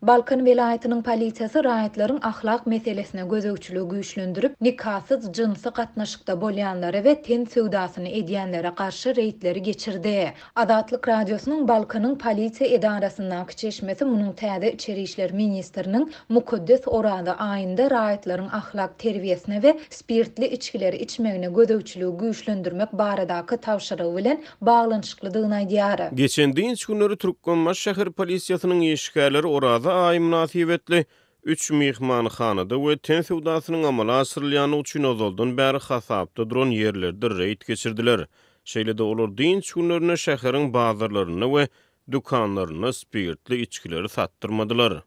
Balkan welaýatynyň polisiýasy raýatlaryň ahlak meselesine gözegçiligi güýçlendirip, nikasyz jynsy gatnaşykda bolýanlara we ten söwdasyny edýänlere garşy reýdleri geçirdi. Azatlyk Radiosynyň Balkanyň polisiýa edarasyndaky çeşmesi munuň täze içeri işler ministriniň mukaddes Oraza aýynda raýatlaryň ahlak terbiýesine we spirtli içgileri içmegine gözegçiligi güýçlendirmek baradaky tabşyrygy bilen baglanyşyklydygyny aýdýar. Geçen dynç günleri Türkmenbaşy şäher polisiýasynyň işgärleri Oraza aýy mynasybetli üç myhmanhanada we ten söwdasynyň amala aşyrylýandygy üçin ozaldan bäri hasapda duran ýerlerde reýd geçirdiler. Şeýle-de olar dynç günlerinde şäheriň bazarlarynda we dükanlarynda spirtli içgileri satdyrmadylar.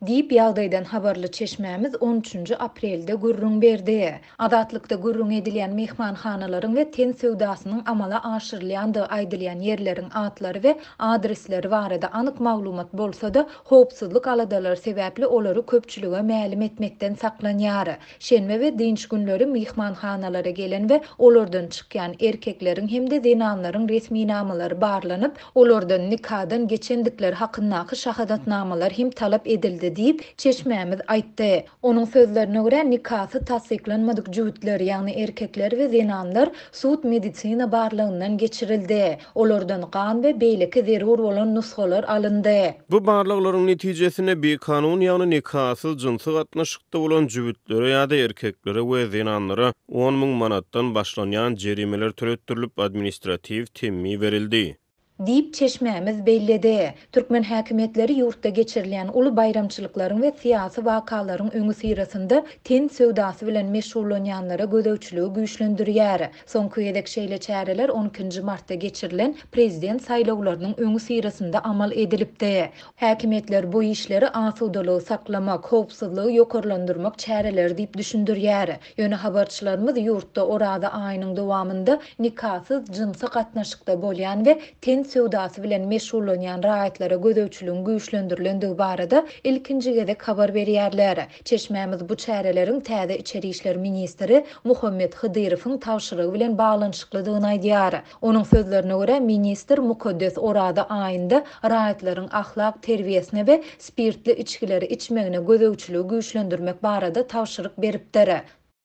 Diýip, ýagdaýdan habarly çeşmämiz on üçünji aprelde gürrüň berdi. Azatlykda gürrüňi edilýän myhmanhanalaryň we ten söwdasynyň amala aşyrylýandygy aýdylýan ýerleriň atlary we adresleri barada anyk maglumat bolsa-da, howpsuzlyk aladalary sebäpli olary köpçülige mälim etmekden saklanýar. Şenbe we dynç günleri myhmanhanalara gelen we olardan çykýan erkekleriň hem-de zenanlaryň resminamalary barlanyp, olardan nikadan geçendikleri hakyndaky şahadatnamalar hem talap edildi diýip, çeşmämiz aýtdy. Onuň sözlerine görä, nikasy tassyklanmadyk jübütler, ýagny erkekler we zenanlar sud-medisina barlagyndan geçirildi. Olardan gan we beýleki zerur bolan nusgalar alyndy. Bu barlaglaryň netijesinde bikanun, ýagny nikasyz jynsy gatnaşykda bolan jübütlere ýa-da erkeklere we zenanlara on müň manatdan başlanýan jerimeler töletdirilip, administratiw temmi berildi. Diýip, çeşmämiz belledi. Türkmen häkimiýetleri ýurtda geçirilýän uly baýramçylyklaryň we syýasy wakalaryň öňüsyrasynda ten söwdasy bilen meşgullanýanlara gözegçiligi güýçlendirýär. Soňky gezek şeýle çäreler on ikinji martda geçirilen prezident saýlawlarynyň öňüsyrasynda amal edilipdi. Häkimiýetler bu işleri asudalygy saklamak, howpsuzlygy ýokarlandyrmak çäreleri diýip düşündirýär. Ýöne habarçylarymyz ýurtda Oraza aýynyň dowamynda nikasyz jynsy gatnaşykda bolýan we ten söwdasy bilen meşgullanýan raýatlara gözegçiligiň güýçlendirilendigi barada ilkinji gezek habar berýärler. Çeşmämiz bu çäreleriň täze içeri işler ministri Muhammet Hydyrowyň tabşyrygy bilen baglanyşyklydygyny aýdýar. Onuň sözlerine görä, ministr mukaddes Oraza aýynda raýatlaryň ahlak terbiýesine we spirtli içgileri içmegine gözegçiligi güýçlendirmek barada tabşyryk beripdir.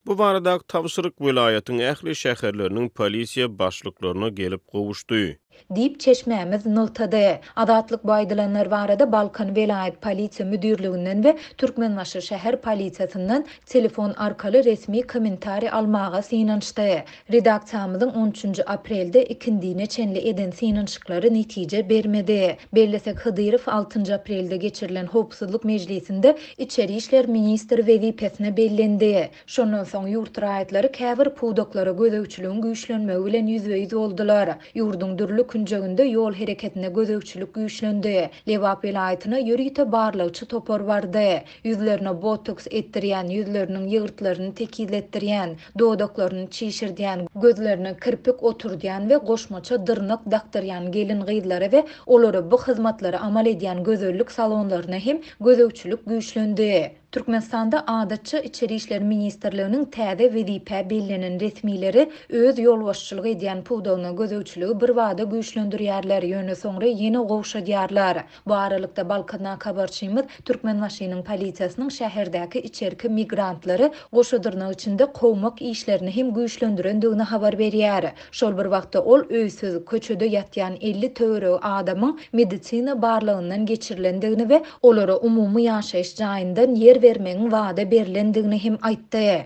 Bu baradaky tabşyryk welaýatyň ähli şäherleriniň polisiýa başlyklaryna gelip gowuşdy. Diýip, çeşmämiz nygtady. Azatlyk bu aýdylanlar barada Balkan welaýat polisiýa müdirliginden we Türkmenbaşy şäher polisiýasyndan telefon arkaly resmi kommentariý almaga synanyşdy. Redaksiýamyzyň on üçünji aprelde ikindine çenli eden synanyşyklary netije bermedi. Bellesek, Hydyrow altynjy aprelde geçirilen Howpsuzlyk mejlisinde içeri işler ministri wezipesine bellendi. Şondan soň ýurt raýatlary käbir pudaklara gözegçiligiň güýçlenmegi bilen ýüzbe-ýüz boldular. Ýurduň dürli künjeginde ýol hereketine gözegçilik güýçlendi. Lebap welaýatyna ýörite barlagçy topar bardy. Ýüzlerine botoks etdirýän, ýüzleriniň ýygyrtlaryny tekizletdirýän, dodaklaryny çişirdýän, gözlerine kirpik oturdýan we goşmaça dyrnak dakdyrýan gelin-gyzlara we olara bu hyzmatlary amal edýän gözellik salonlaryna hem gözegçilik güýçlendi. Türkmenistanda adatça Içeri işler ministrliginiň täze wezipä bellenen resmileri öz ýolbaşçylyk edýän pudagyna gözegçiligi birbada güýçlendirýärler, ýöne soňra ýene gowşadýarlar. Bu aralykda, Balkandan habarçymyz Türkmenbaşynyň polisiýasynyň şäherdäki içerki migrantlary goşadyrnak içinde kowmak işlerini hem güýçlendirendigini habar berýär. Şol bir wagtda, ol öýsüz, köçede ýatýan elli töweregi adamyň medisina barlagyndan geçirilendigini we olara umumy ýaşaýyş jaýyndan ýer bermegiň wada berlendigini hem aýtdy.